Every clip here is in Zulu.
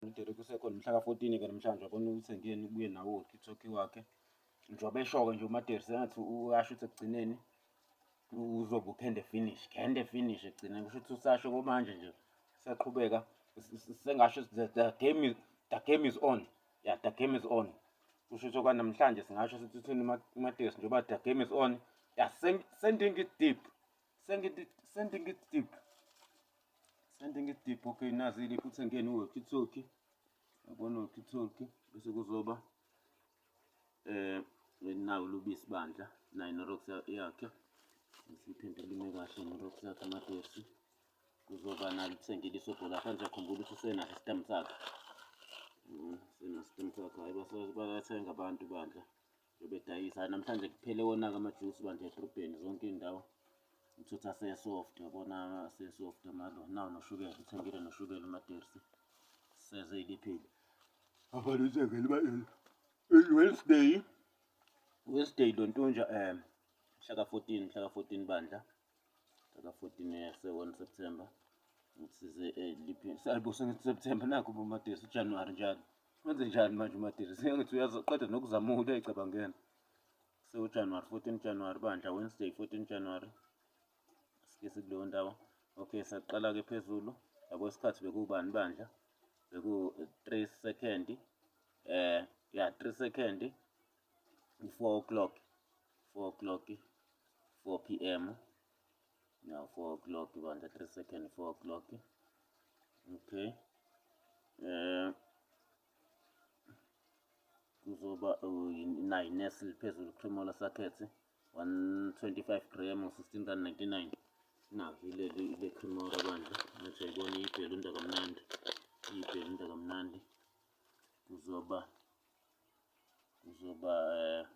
Uderek usekhona mhla ka-14 ke namhlanje abona ukuthi ngiyeni ubuye nawo ukithoki wakhe njengoba esho-ke nje umaderi sengathi uyasho ukuthi ekugcineni uzobe ukhende finish khende finish ekugcineni kusho ukuthi usasho komanje nje siyaqhubeka sengasho the game is the game is on yeah the game is on kusho ukuthi okwanamhlanje singasho sithi uthini umaderi njengoba the game is on yeah sending it deep Sending it, sending it deep. Sending it deep. Okay, nazi ile futhi engene uwalkie talkie. Yabona uwalkie talkie bese kuzoba eh nawo lubisi bandla nayo nerox yakhe. Siphinde lime kahle nerox yakhe amadesi. Kuzoba nalo sendile isobhola phansi akhumbula ukuthi usena system sakhe. Mm, sena system sakhe hayi basabathenga abantu bandla. Bebedayisa namhlanje kuphele wona-ke amajusi bandla edrobheni zonke iy'ndawo uthutha asesoft yabona asesoft amalo nawo noshukela uthengile noshukela umatersi seze iliphile abantu uthengele ibalini wednesday wednesday lontunja um mhlaka 14 mhlaka 14 bandla Taka 14 years, 1 September. Ngisize eliphi? Eh, Salbo sengithi September nakho uMadisi uJanuary njalo. Wenze njani manje uMadisi? Sengithi uyazoqeda nokuzama ukuthi ayicabangene. So January 14 January bandla Wednesday 14 January. Sike sikuleyo ndawo. Okay, saqala ke phezulu. Yabo isikhathi bekubani bandla? Beku 3 second. Eh, ya 3 second. u-four o'clock four o'clock four p m no four o'clock bandla three second four o'clock okay um kuzoba nayi nestle phezulu cremola sakhethi 125 gram 16 rand 99 nakho ileli le cremola bandla ngathi ayibona iyibhelunda kamnandi iyibhelunda kamnandi kuzoba kuzoba eh,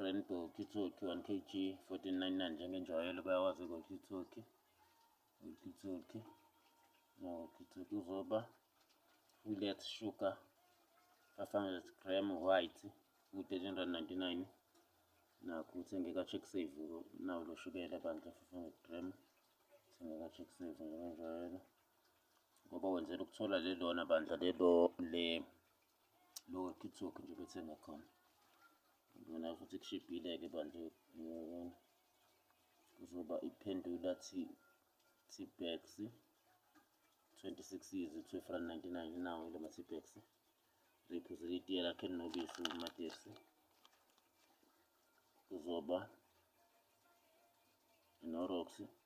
Rainbow Kitsoki 1 kg 1499 njengenjwayelo bayawazi ngokitsoki ngokitsoki ngokitsoki uzoba fillet sugar 500 gram white u-1399 nakho uthengeka check save nawo lo shukela bandla 500 gram uthengeka check save njengenjwayelo ngoba wenzela ukuthola lelona bandla lelo le lower kitsock nje bethenga khona ngibona futhi kushibhile-ke bandla kuzoba iphendula t-bax 26 years 12 rand 99 nawo ile ma-t-bax riphuze litiye lakhe elinobisi umatesi kuzoba inoroxi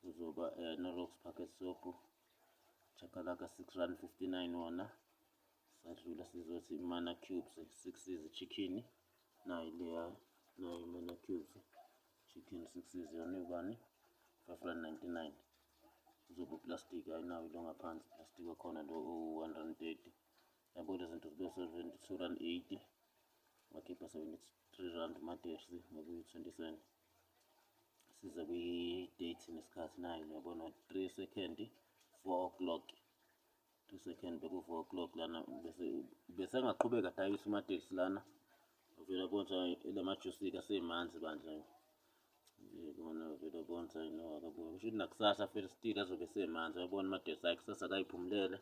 kuzoba um no-rox packet sopo chakalaka six rand fifty nine wona sadlula sizothi mana cubes six izichikhini nayi leya nayi mana cubes chicken six iziyona yobani five rand ninety nine kuzoba uplastic ayinawo ilo ngaphansi plastic wakhona lo u-one rand thirty yabo le zinto zibe seventy-two rand eighty wakhipha seventy-three rand umadersi ngokuyi-twenty cent size kwi-date nesikhathi nayo niyabona 3 second 4 o'clock 3 second beku-4 o'clock lana bese bese engaqhubeka dayisa umatekisi lana uvela bonsa lamajusika semanzi bandla yibona uvela bonsa no akabuya kusho ukuthi nakusasa fela still azobe semanzi uyabona umatekisi ayi kusasa akayiphumulele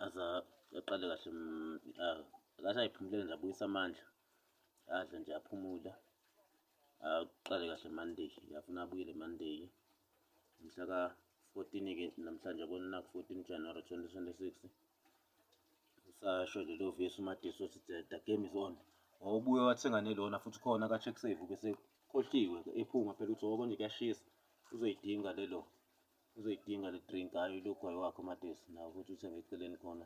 aza aqale kahle mm, ah, akasayiphumulele nje abuyisa amandla adle nje aphumule aqale kahle Monday ngiyafuna abuyele Monday mhla ka 14 ke namhlanje kona ku 14 January 2026 usasho lelo vesi uMadisi othi the game is on wawubuye wathenga nelona futhi khona ka check save bese khohliwe ephuma phela uthi woko nje kuyashisa uzoyidinga lelo uzoyidinga le drink hayi lokho wakho uMadisi nawo futhi uthenge eceleni khona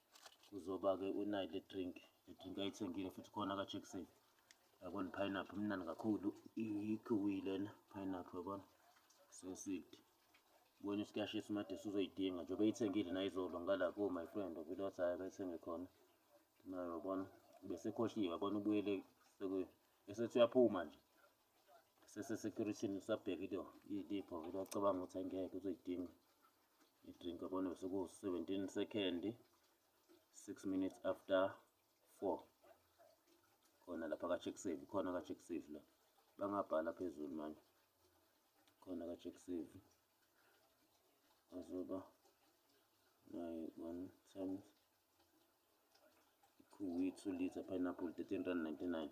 uzoba-ke unayo le drink le drink ayithengile futhi khona kajackson yabona pineapple mnani kakhulu ikhiwi lena pineapple yabona sesidi bona isikashisa umadesi uzoyidinga njengoba eyithengile nayizolo ngala ko my friend ovile wathi hhayi akayithenge khona nayo yabona besekhohliwe yabona ubuyele esethi uyaphuma nje sesesecurity usabhekile ilipho vele wacabanga ukuthi angeke uzoyidinga i-drink yabona sekuwu-seventeen second six minutes after four khona lapha ka-check save khona ka-check save la bangabhala phezulu manje khona ka-check save azoba naye one times ikhuwi two liter pineapple thirteen rand ninety nine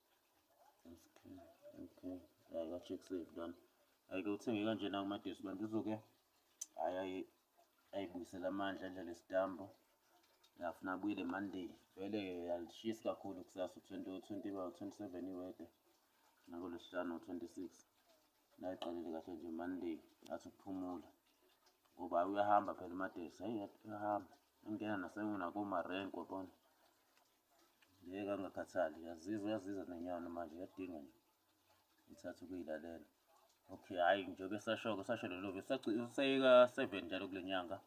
okay hayi ka check save lona ayike uthenge kanjena kumadesi bantu uzoke hayi ayibuyisela amandla endlela isitambo ngafuna abuyile monday vele yalishisi kakhulu kusasa u-27 iwede nakolwesihlanu u-26 nayiqalile kahle nje monday ngathi ukuphumula ngoba uyahamba phela umadesi hayi uyahamba ingena nasenakomarenko yabona Ngeke angakhathali yazizwa yazizwa nenyama manje yadinga nje ithatha ukuyilalela okay hhayi njengoba esashoko sasho lelo useyeka seven njalo kule nyanga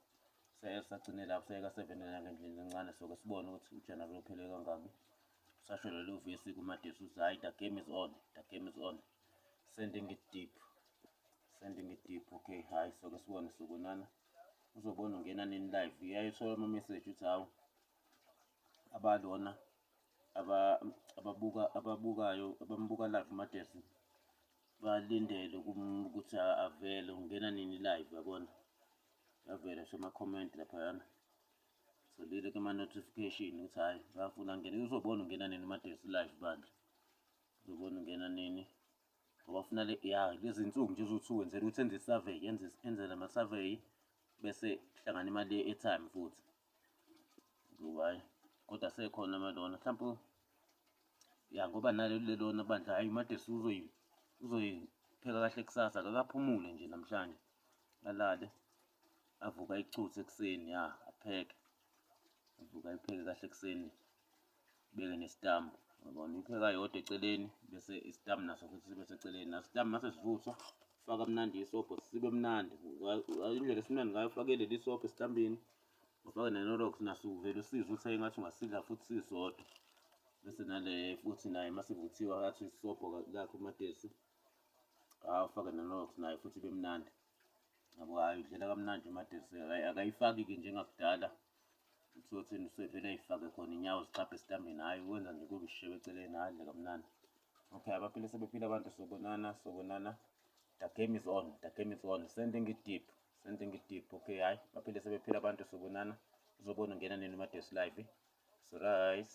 sagcine lapho sayeka seven nyanga endlini encane soke sibone ukuthi ujanabo lophele kangaki sasho lelo vesi kumadesi uthi hhayi the game is on the game is on sending it deep sending it deep okay hhayi soke sibone sokunana uzobona ungena nini live uyayithola ama-message uthi hawu abalona ababuka ababukayo abambuka live uMadesi balindele ukuthi avele ungena nini live yabona yavela sema-comment laphayana solile kuma-notification ukuthi hhayi bafuna ngene uzobona ungena nini uMadesi live bandla uzobona ungena nini ngoba funa le ya lezi nsuku nje uzothi wenzela ukuthi enze i-survey enze enze lama-survey bese kuhlangana imali ye-airtime futhi Ngoba hhayi kodwa asekhona amalona mhlawumpe ya ngoba naleli lelona bandla hhayi umadesi uzoyipheka kahle kusasa kakaphumule nje namhlanje alale avuka ichuthe ekuseni ya apheke avuka ayipheke kahle ekuseni Beke nesitambu. Yabona ipheka yodwa eceleni bese isitambu naso futhi sibe seceleni. Naso isitambu mase sivuthwa faka mnandi isobho sibe mnandi. Indlela esimnandi ngayo fake leli sobho esitambini. Ufake nenorox naso uvele usizwe ukuthi engathi ungasidla futhi sisodwa. Bese nale futhi naye masivuthiwa athi isobho lakhe umatesi. Hawu ufake nenorox naye futhi ibe mnandi. Yabo hhayi udlela kamnandi umatesi akayifaki-ke njengakudala. uthini usevele ayifake khona inyawo zixabhe esitambeni hhayi wenza nje kube ishewe eceleni hhayi dle kamnandi okay abaphile sebephile abantu sobonana sobonana the game is on the game is on sending it deep sending it deep okay hhayi baphile sebephile abantu sobonana uzobona ungena nini umadesu live surice